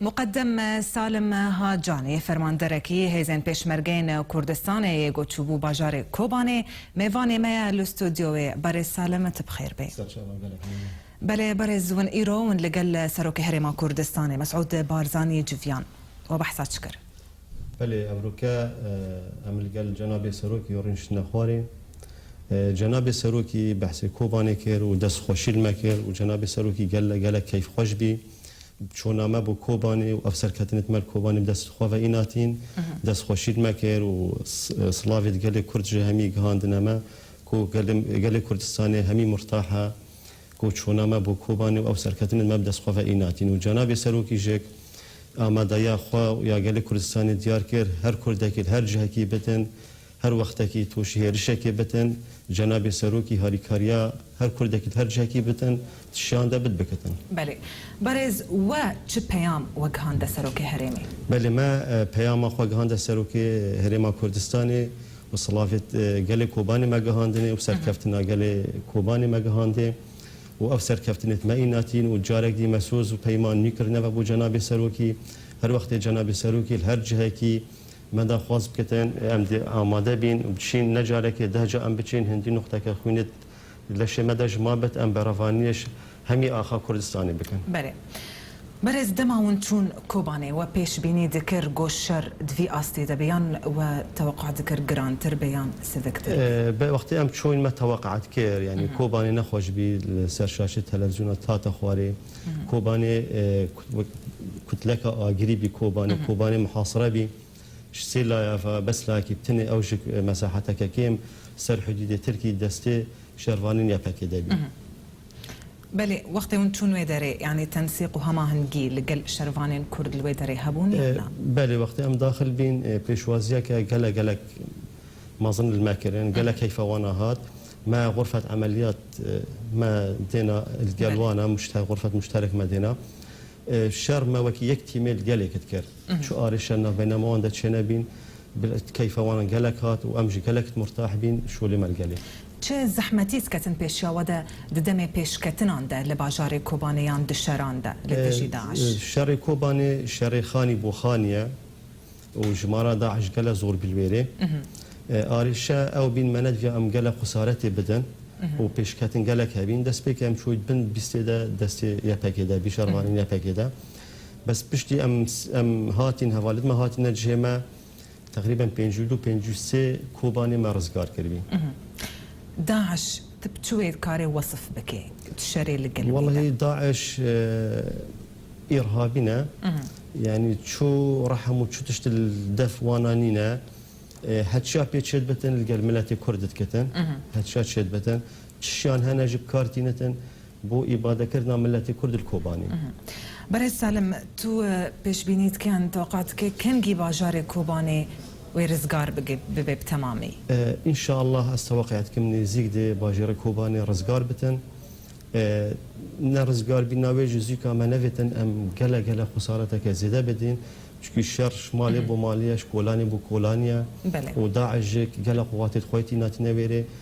Muqeddem Salim Hacanî, fermanderekî Hêzên Pêşmergeyên Kurdistanê yê got çûbû bajarê Kobanê, mêvanê me ye li studyoyê. Berêz Salim tu bi xêr bê. Serçava gelek mezin e. Belê berêz win îro win li gel Serokê Herêma Kurdistanê Mesûd Barzanî civiyan. We behsa çi kir? Belê Evroke, em li gel Cenabê Serokê rû şitine xwarê. Cenabê Serokî behsê Kobanê kir û dest xweşî li me kir û Cenabê Serokî gelek gelek keyfxweş bî. Çona me bo Kobanê û ev serketinê di me li Kobanê bi dest xwe ve înatin. Dest xweşî li me kir û silavê di gelê Kurd ji hemî gihandine me ku gelê Kurdistanê hemî murtah e. Ku çûna me bo Kobanê û ew serketinên me bi dest xwe ve îna tîn û cenabê Serokî jek amadeya xwe û ya gelê Kurdistanê diyar kir, her Kurdekî li her cihekî bitin, her wextekî tûşî hêrişekê bitin, cenabê Serokî harîkariya her Kurdekî li her cihekî bitin, di şiyan de bit bikitin. Belê. Berêz we çi peyam wegihande Serokê Herêmê? Belê me peyama xwe gihande Serokê Herêma Kurdistanê. Bi silavê gelê Kobanê me gihandinê û serkeftina gelê Kobanê me gihandê û ev serkeftinê di me îna tîn û carek dî me soz û peyman nû kirine ve bo Cenabê Serokî. Her wextê Cenabê Serokî li her cihekî me daxwaz bike, em dê amade bîn û biçîn ne carekê deh ca em biçîn hindî nuqteke xwînê Leşê me de ji ma bet em berevanînê ji hemî axa Kurdistanê bikin. Belê. Berêz dema hûn çûn Kobanê we pêşbînî dikir go şer di vî astê de be yan we teweqûa dikir girantir be yan siviktir? Be wextê em çûn me teweqûa dikir yanî Kobanê ne xweş bî li ser şaşê televîzyona tate xwarê. Kobanê kutleka agirî bî Kobanê. Kobanê mihasire bî. Ji sê laya ve bes layekî tenê ew ji ku mesaheteke kêm ser hidûdê Tirkî destê şervanên YPG'de bî. Belê, wextê hûn çûn wê derê, yanî tensîq û hemahingî li gel şervanên Kurd li wê derê hebûn yan na? Belê, wextê em daxil bîn pêşwaziyeke gelek gelek mezin li me kirin. Gelek heyfa wan a hat. Me xurfet emeliyat me dêna li gel wan a, muşte xurfet muşterek me dêna. Şer me wekî yek tîmê li gelê kit kir. Çi arêşe navbeyna me wan de çênebîn, keyfa wan gelek hat û em jî gelek murtah bîn şolê me li gelê. Çi zehmetî diketin pêşiya we de di demê pêşketinan de li bajarê Kobanê yan di şeran de li dijî DAIŞ? Şerê Kobanê şerê xanî bo xanî ye û jimara DAIŞ gelek zor bî li wê rê. Arêşe ew bîn me nediviya em gelek xusaretê bidin û pêşketin gelek hebîn. Destpêkê em çûyî bin bîstê de destê YPG'ê de bî, şervanên YPG'ê de. Bes piştî em em hatîn hevalê din me hatîne cihê me teqrîben pêncî û du pêncî û sê Kobanê me rizgar kiribî. DAIŞ tu bi çi wê dikarê wesif bikê? Çi şerê li gel bî de? Wellahî DAIŞ îrhabî ne. Yanî çû rehem û çû tiştî li def wana nîne. Heçiya pê çêdibitin li gel miletê Kurd didikitin. Heçiya çêdibitin. Çişiyan hene ji kar tînin din bo îbadekirina miletê Kurd li Kobanê? Berez Salim, tu pêşbînî dike yan toqa dike kengî bajarê Kobanê wê rizgar bibe bi temamî? Înşallah ez teweqeya dikim nêzîk de bajêrê Kobanê rizgar bitin. Ne rizgarbîna wê ji zûka me nevêtin em gele gele xwesareteke zêde bidîn. Çikî şer ji malê bo malê ye, ji kolanê bo kolanê ye û DAIŞ jî gele xwe watê di xwe tîna tîne wêrê.